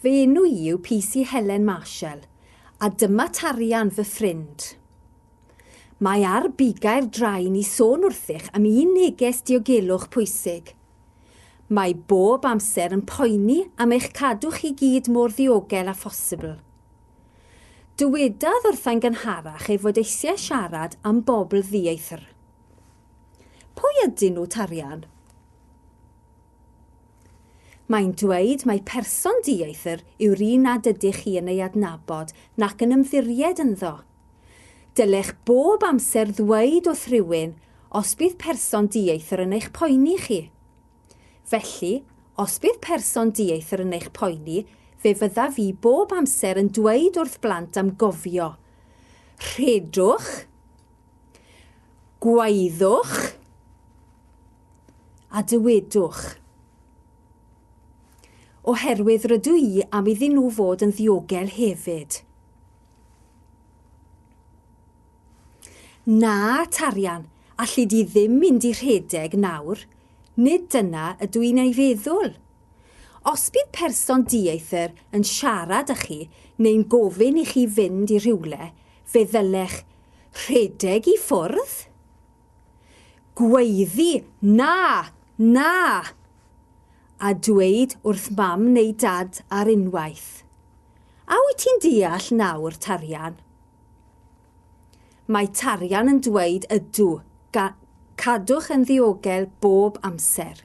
Fy enw i yw PC Helen Marshall, a dyma Tarian, fy ffrind. Mae ar bigau'r drain i sôn wrthych am un neges diogelwch pwysig. Mae bob amser yn poeni am eich cadw chi gyd mor ddiogel â phosibl. Dywedodd wrthai'n gynharach ei fod eisiau siarad am bobl ddieithr. Pwy ydyn nhw, tarian? Mae'n dweud mai person dieithr yw'r un nad ydych chi yn ei adnabod nac yn ymddiried ynddo. Dylech bob amser ddweud wrth rywun os bydd person dieithr yn eich poeni chi. Felly, os bydd person dieithr yn eich poeni, fe fyddaf i bob amser yn dweud wrth blant am gofio, rhedwch, gwaeddwch a dywedwch. Oherwydd rydw i am iddyn nhw fod yn ddiogel hefyd. Na, tarian, alli di ddim mynd i rhedeg nawr, nid dyna ydw i'n ei feddwl. Os bydd person dieithr yn siarad â chi neu'n gofyn i chi fynd i rhywle, fe ddylech rhedeg i ffwrdd? Gweiddi 'Na! Na! a dweud wrth Mam neu Dad ar unwaith. A wyt ti'n deall nawr, tarian? Mae tarian yn dweud ydw, ga, cadwch yn ddiogel bob amser.